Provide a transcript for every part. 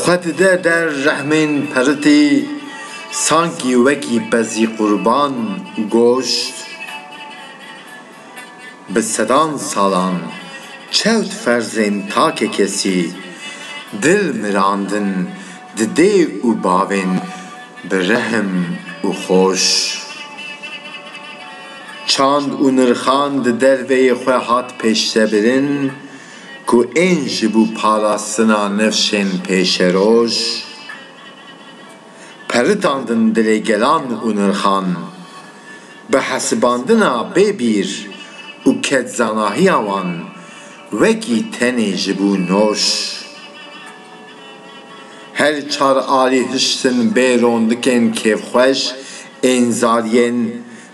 Xwe dide der rehmên peritî sankî wekî pezî qurban û goşt bi sedan salan çewt ferzên takekesî dil mirandin di dê û bavên bi rehm û xweş. Çand û nirxan di derveyê xwe hat pêşvebirin. ku ên ji bo parastina nifşên pêşeroj peritandin dilê gelan û nirxan, bi hesibandina bê bîr û ketzanahiya wan wekî tenê ji bo nor. Her çar alî hiştin bê rondikên kêfxweş ên zariyên.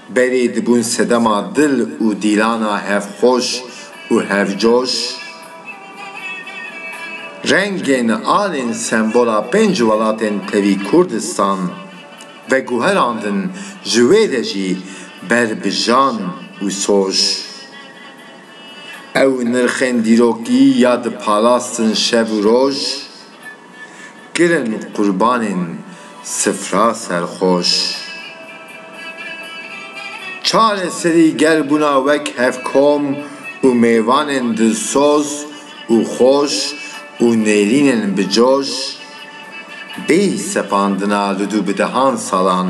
Berî dibûn sedema dil û dîlana hevxweş û hevcoş. Rengên alên sembola pênc welatên tevî Kurdistan veguherandin ji wê re jî ber bi jan û soş. Ew nirxên dîrokî ya diparastin şev û roj. Kirin qurbanên sifra serxweş. Çareserî gel bûna wek hevkom û mêvanên dilsoz û xweş û nêrînên bi coş, bêyî sepandina li dû bi dehan salan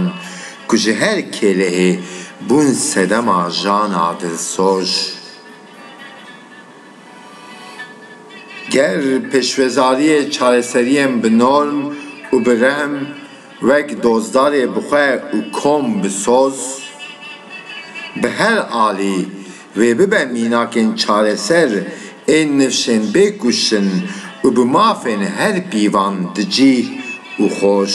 ku ji her kêlehê bûn sedema jana dilsoz. Ger pêşwazariyê çareseriyên bi norm û bi rehm wek dozdarê bi xwe û kom bi soz bi her alî wê bibe mînakên çareser ên nifşên bê kuştin û bi mafên her pîvan di cîh û xweş.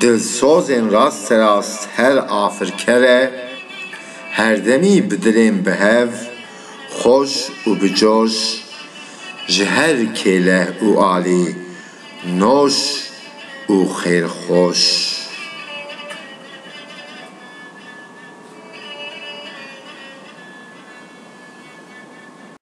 Dilsozên rasterast her afirker e, herdemî bi dilên bi hev, xweş û bi coş, ji her kêleh û alî noş û xêrxweş.